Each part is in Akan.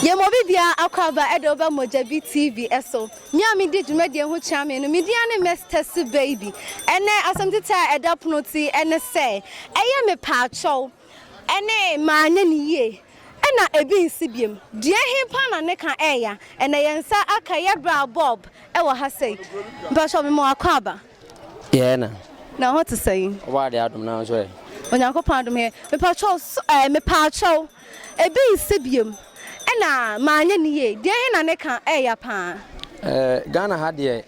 Yɛma obi biara akwaaba de woba Mogyabi TV so. Me a medi dwumadie ho kyea me no, me din ara ne Miss Tessy Baby. Ɛnnɛ asɛm titire a ɛda pono ti ne sɛ, ɛyɛ mepaakyɛw ne manyɛ no yie na ebi nsi biom. Deɛ he paa na ne ka ɛɛya? Ɛnnɛ yɛn nsa aka yɛ bra Bob wɔ ha sei. Mpakyɛw mema wo akwaaba. Yɛɛ na. Na ɛhɔ te sɛn? Ɔbaa deɛ adom na nso ɛ. Onyankopɔn adom ɛ. Mepakyɛw so ɛɛ mepaakyɛw. Ebi nsi biom. Ɛna maanyɛ ne yie. Deɛ he na ne ka ɛɛya paa? Ɛɛ Ghana ha deɛ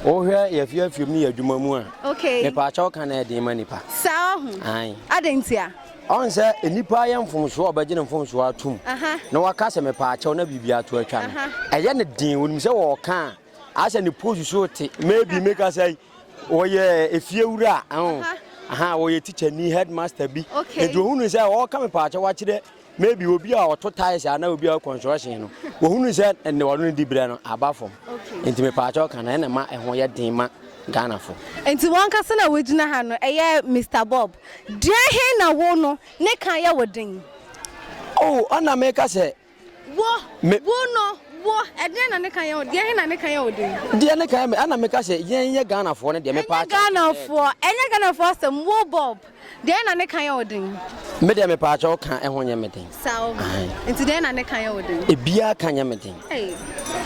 wohwɛ yɛfi afiom ne yɛ adwuma mu a. Okay. Mepaakyɛw ka no ɛɛden ma nipa. Saa ɔho. Ae. Adɛn ntia? Ɔn sɛ nipa ayɛ mfomsoɔ a ɔbɛgye ne mfomsoɔ atom. Aha. Na waka sɛ mepaakyɛw na biribi ato atwa no. Aha. Ɛyɛ no den onim sɛ ɔɔka a. Asɛ ne pose so te maybe meka sɛ wɔyɛ efie wura ɛho aha wɔyɛ teacher ni headmaster bi nti ohunu sɛ ɔka me paakyɛ wakyerɛ maybe obi a ɔto tiles ana obi a construction no ohunu sɛ ɛnne wɔn no di brɛ no aba fam nti me paakyɛ ɔka na ɛna ma ɛho yɛ den ma Ghana fo. Nti wɔn kasa na wɔgyina ha no ɛyɛ Mr Bob deɛ he na wo no ne ka yɛ wo den. Oh ɔna meka sɛ Wo, wo no, wo, ɛdeɛn na ne ka yɛ wo den? Ɛhe na ne ka yɛ wo den? Deɛ ne ka yɛ me, ɛna meka sɛ yɛn yɛ Ghanafoɔ no deɛ, mepaakyɛw. Ɛnyɛ Ghanafoɔ, ɛnyɛ Ghanafoɔ asɛm, wo Bob, deɛn na ne ka yɛ wo den? Me deɛ mepaakyɛw ka ho nyɛ me den. Saa o, nti deɛn na ne ka yɛ wo den? Ebiara ka nyɛ me den. Ei,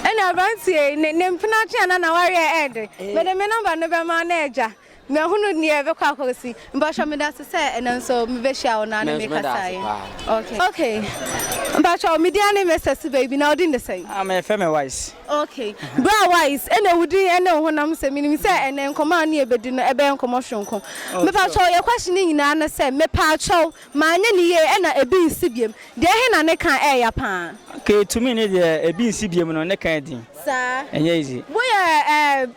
ɛne aberanteɛ yi, ne, ne mpenatwe anaa n'awareɛ ɛyɛ den. Mede me nɔmba no bɛma wo na agya. Mehunu nea ɛbɛkɔ akɔsi. Mpakyɛw meda ase sɛ ɛnɛ nso mebɛhyia wo na ne me kasaeɛ. Okay. Okay. Mpakyɛw me din ane Mister Siba Ibi na wo din de sɛn? Ah me fɛ me Wise. Okay. Bra Wise, ɛna wo din ɛne wo honam sɛ menim sɛ ɛnɛ nkɔmmɔ a wo ne yɛbɛdi no ɛbɛyɛ nkɔmmɔ soronko. Mepakyɛw yɛ question no nyinaa ne sɛ, Mepaakyɛw Manyɛ no yie ɛna ebi nsi biem. Deɛ he na ne ka ɛyɛ ya paa? Kay tumi ne deɛ ebi nsi biem no ne ka yɛ den. Saa. Ɛnyɛ easy. Wo yɛ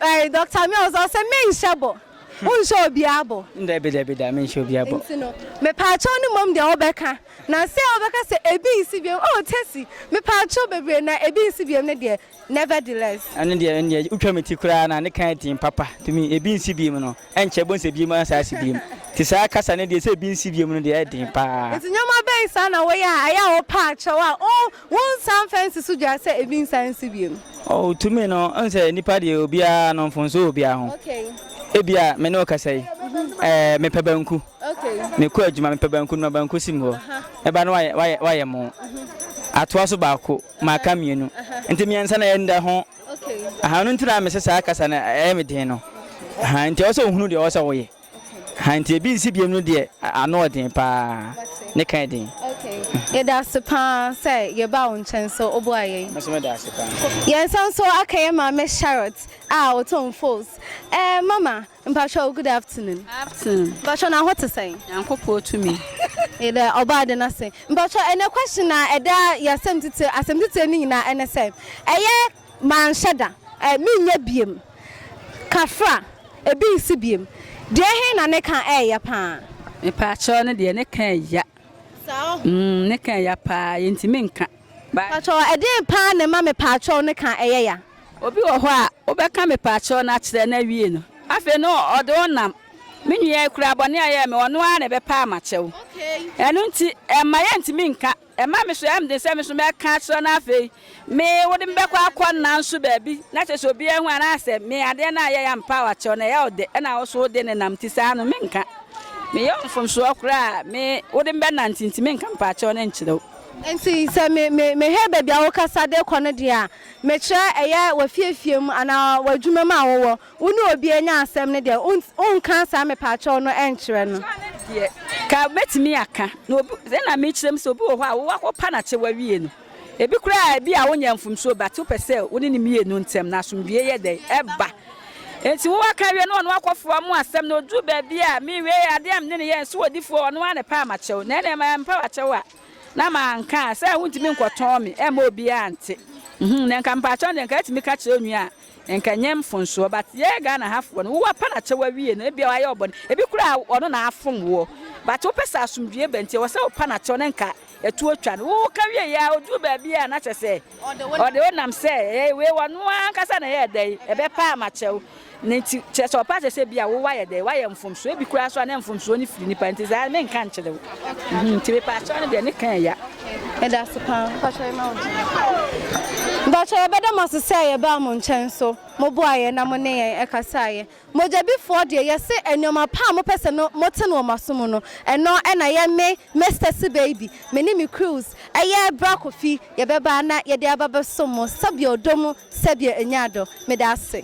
ɛɛ Doctor Mills ɔsɛ me nhyɛ bɔ. Wo nhyɛ obiaa bɔ. Dabi dabi da me nhyɛ obiaa bɔ. Nti no me paakyɛw no mmom deɛ wo bɛ ka na se wo bɛ ka sɛ ebi nsi biem oh Tessie me paakyɛw bebree na ebi nsi biem no deɛ Nevertheless. Ɛno deɛ ɛnneɛ wotwa me ti koraa na ne kan den papa to me ebi nsi biem no ɛnkyɛ ɛbɛhu sɛ biem asan asi biem nti saa kasa no deɛ sɛ ebi nsi biem no deɛ ɛyɛ den paa. Nti nneɛma bɛn saa na woyɛ a ɛyɛ a wopɛ akyɛw a wo wonsan mfa nsi so dua sɛ ebi nsan nsi biem? Oh to me no wohu sɛ nipa deɛ obiara no mfomso wɔ obiara ho ebia me ne wo kasa yi ɛɛ mepɛ banku mekɔ adwuma mepɛ banku no ma banku si me hɔ mɛba no wayɛ wayɛ wayɛ mo atoa so baako. maka mmienu nti mmiɛnsa na ɛyɛ nda ho aha no nti na mese saa kasa no ɛyɛ me den no aha nti ɛwɔ sɛ ohunu deɛ ɛwɔ sɛ woyɛ aha nti ebi nsi biem no deɛ ano ɔden paa ne kan den. yɛda ase paa sɛ yɛba wo nkyɛn so woboa yɛn yɛnsan so aka yɛ maame charlotte a ɔtɔn fos eh, mama Mpakyɛw good afternoon. Afternoon. Mpakyɛw na ho te sɛn? Nyankopɔn tumi. Yɛda Ɔbɔ ade no ase. Mpakyɛw ɛnɛ question a ɛda yasɛm titire asɛm titire no nyinaa ɛne sɛ ɛyɛ manhyɛ da, ɛ menyɛ biem, kafra, ebi nsi biem, deɛ he na ne ka ɛɛya paa? Mpakyɛw ne deɛ ne ka ɛɛya. Saa ɔho. Mm ne ka ɛɛya paa yɛntumi nka. Pakyɛw ɛdeen paa na ɛma mepaakyɛw no ka ɛyɛ ya. Obi wɔ hɔ a wobɛka mepaakyɛw no akyerɛ no awie no afei no ɔde wo nam. Me nua yi koraa bɔne a ɔyɛɛ me ɔno ara na ɛbɛpaa makyɛw. Ɛno nti ɛmma yɛntumi nka. Ɛma me so ɛyɛ me den sɛ me so mɛka akyerɛ no afei me wode me bɛkɔ akɔ nna nso baabi na kyerɛ sɛ obiara ahu anaasɛ me adeɛ no a yɛyɛ ampaa wakyɛw no ɛyɛ wo dɛ ɛna wo so wode no nam nti saa no menka. Meyɛ wo mfomsoɔ koraa a me wode me bɛnante nti menka mepaakyɛw no nkyerɛ wo. Enti sɛ me, me, mehwɛ baabi a wokasa de kɔ no deɛ a, mekyerɛ ɛyɛ w'afiefie mu anaa w'adwuma mu a wowɔ, wo ne obi anya asɛm no deɛ, wont, wonka saa mepaakyɛw no nkyerɛ no. Saa no deɛ, ka, mɛtumi aka. Na obi, sɛdeɛ na mekyerɛ mu sɛ, obi wɔ hɔ a wo, woakɔpa no akyɛ woawie no. Ebi koraa a, ebia wonyaa mfomsoɔ, but wopɛ sɛ wo ne no mmienu ntam no asomdwoeɛ yɛ dɛn? Ɛba. Enti wo aka awie na ɔno akɔ foa mo asɛm na ɔduru baabi a me nwiei adeɛ a mene no yɛ nso ɔdifoɔ ɔno ara na ɛpɛ a makyɛw na ɛneɛ mampaw akyɛw a na manka a sɛ wontumi nkɔtɔn me ɛmma obiara nte uhmm na nka mpaakyɛw deɛ nka ɛtumi ka kyerɛ onua a nka ɛnyɛ mfonsoɔ but yɛ Ghana ha foɔ no wo apa nakyɛw awie no ebia wayɛ ɔbɔne ebi koraa ɔno na afom woɔ but wopɛ sɛ asomdwie ba nti ɛwɔ sɛ wopa nakyɛw na nka Yɛto atwa no, woka wieeɛ ara ɔduru baabi a na kyerɛ sɛ ɔde wo nam sɛ ɛyɛ wei ɔno ara ankasa na ɛyɛɛ dɛn, ɛbɛpa ama kyɛ wo. Ne nti kyerɛ sɛ ɔpa kyerɛ sɛ bi a wo wayɛ dɛn, wayɛ mfomsoɔ, ebi koraa nso a na mfomsoɔ no firi nipa nti saa menka nkyerɛ wo. Mhm, nti mepaakyɛw no deɛ ne ka ɛya. Meda ase paa. Mpakyɛ yɛma wo din. Mpakyɛ yɛbɛda mo ase sɛ yɛbaa mo nkyɛn so mo boaeɛ na mo ne yɛn ɛkasaeɛ. Mogyadifoɔ deɛ, yɛse nnoɔma pa a mopɛ sɛ no mote no wɔ moaso mu no, ɛno na yɛ me, Mister Cbaby, me ne me crews, ɛyɛ Bra Kofi, yɛbɛba na yɛde aba bɛsom mo, sɛdeɛ ɔdɔ mu, sɛdeɛ ɛnya adɔ. Meda ase.